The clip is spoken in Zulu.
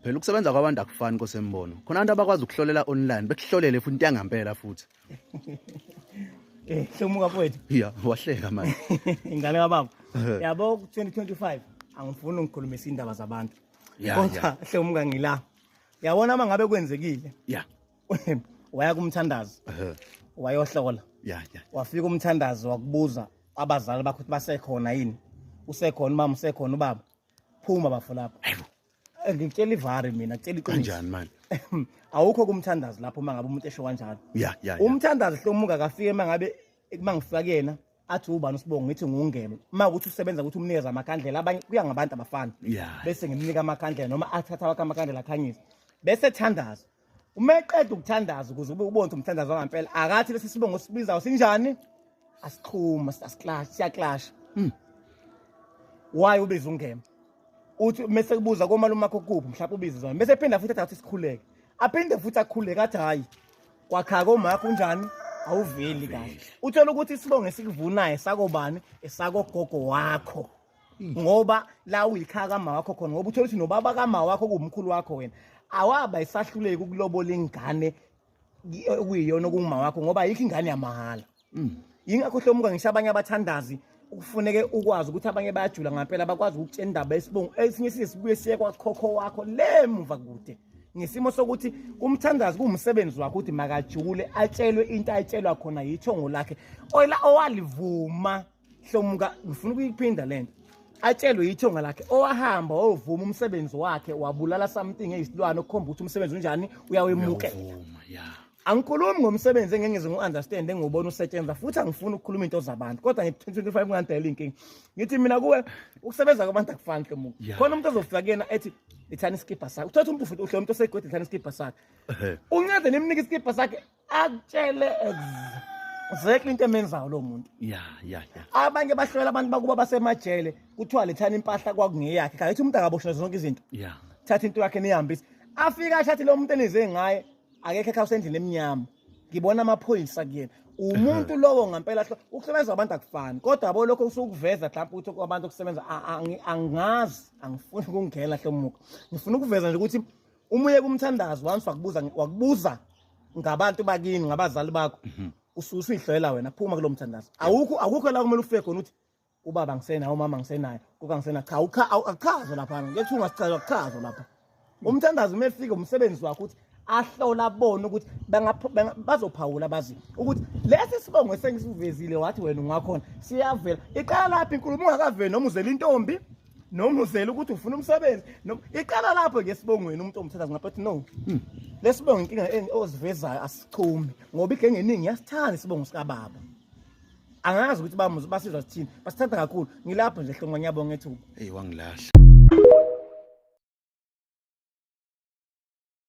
phela ukusebenza kwabantu akufani kosembono khona abantu abakwazi ukuhlolela online bekuhlolele futhi into yangampela futhi eh hlomuka mfowethu ya wahleka manje ingane kababa yabo 2025 angifuni ngikhulumise indaba zabantu kodwa hlomuka ngila yabona uma ngabe kwenzekile ya waya kumthandazo wayohlola ya ya wafika umthandazo wakubuza abazali bakho ukuthi basekhona yini usekhona umama usekhona ubaba phuma bafo lapho Eh, ngikutshela ivari mina kutshela iqiniso kanjani manje awukho kumthandazi lapho uma ngabe umuntu esho kanjalo ya ya ya. umthandazi hlomu ungakafiki uma ngabe uma ngifika kuyena athi ubani usibongo ngithi ngungebe uma ukuthi usebenza ukuthi umnikeza amakhandlela abanye kuya ngabantu abafana Yeah. bese ngimnika amakhandlela noma athatha wakhe amakhandlela akhanyisa bese thandaza uma eqeda ukuthandaza ukuze ube ubonze umthandazo wangampela akathi lesi sibongo sibizayo sinjani asixhuma asiklash siyaklasha hmm. why ubiza ungema uthi mese kubuza komalume wakho kuphi mhlawumbe ubiza zona mese ephinda futhi athathe isikhuleke aphinde futhi akhuleke athi hayi kwakha komakho unjani awuveli kahle uthola ukuthi isibongo esikuvunayo sakobani esakogogo wakho ngoba la uyikhaya kama wakho khona ngoba uthola ukuthi nobaba kama wakho kuwumkhulu wakho wena awaba isahluleki ukulobola ingane okuyiyona okunguma wakho ngoba ayikho ingane yamahhala mm. yingakho hlomuka ngisho abanye abathandazi kufuneke ukwazi ukuthi abanye bayajula ngampela bakwazi ukutshela indaba yesibongo esinye siye sibuye siye kwakhokho wakho le muva kude ngesimo sokuthi umthandazi kuwumsebenzi wakhe ukuthi makajule atshelwe into ayitshelwa khona yithongo lakhe oyila owalivuma hlomuka ngifuna ukuyiphinda lento atshelwe yithonga lakhe owahamba wovuma umsebenzi wakhe wabulala something eyisilwane okukhomba ukuthi umsebenzi unjani uyawemukela angikhulumi ngomsebenzi engengeze ngu-understand engiwubona usetshenzwa futhi angifuni ukukhuluma into zabantu kodwa ngi-25 kungandela iy'nkinga ngithi mina kuwe ukusebenza kwabantu akufani ke muku khona umuntu ozofika kuyena ethi ithani isikibha sakhe uthatha umuntu futhi uhle umuntu osegodi ithani isikibha sakhe uncede nimnike isikibha sakhe akutshele exactly into emenzayo lo muntu ya ya ya abanye bahlolela abantu bakuba basemajele kuthiwa lethani impahla kwakungeyakhe kanti umuntu akaboshwe zonke izinto ya thatha into yakhe nihambise afika ashathi lo muntu enize ngaye akekho ekhawuse endlini emnyama ngibona amaphoyisa kuyena umuntu lowo ngampela ukusebenza abantu akufani kodwa yabo lokho usukuveza mhlawumbe ukuthi kwabantu okusebenza angazi angifuni ukungena hlomuka ngifuna ukuveza nje ukuthi uma uye kumthandazo once wakubuza wakubuza ngabantu bakini ngabazali bakho mhm. ususihlolela wena phuma kulo mthandazo awukho awukho la kumele ufike khona uthi ubaba ngisenayo umama ngisenayo kuka ngisena cha ucha akuchazo lapha ngethi ungasichaza akuchazo lapha umthandazo uma efika umsebenzi wakho uthi ahlola bona ukuthi bazophawula bazi ukuthi lesi sibongo esengisivezile wathi wena ungakhona siyavela iqala lapha inkulumo ungakaveli noma uzela intombi noma uzela ukuthi ufuna umsebenzi noma iqala lapho ke sibongweni umuntu omthatha ngapha athi no hmm. lesibongo inkinga ozivezayo asichumi ngoba igengeningi yasithanda isibongo sikababa angazi ukuthi bamuzi basizwa sithini basithanda kakhulu ngilapho nje hlongwa ngiyabonga ethuba eyi wangilahla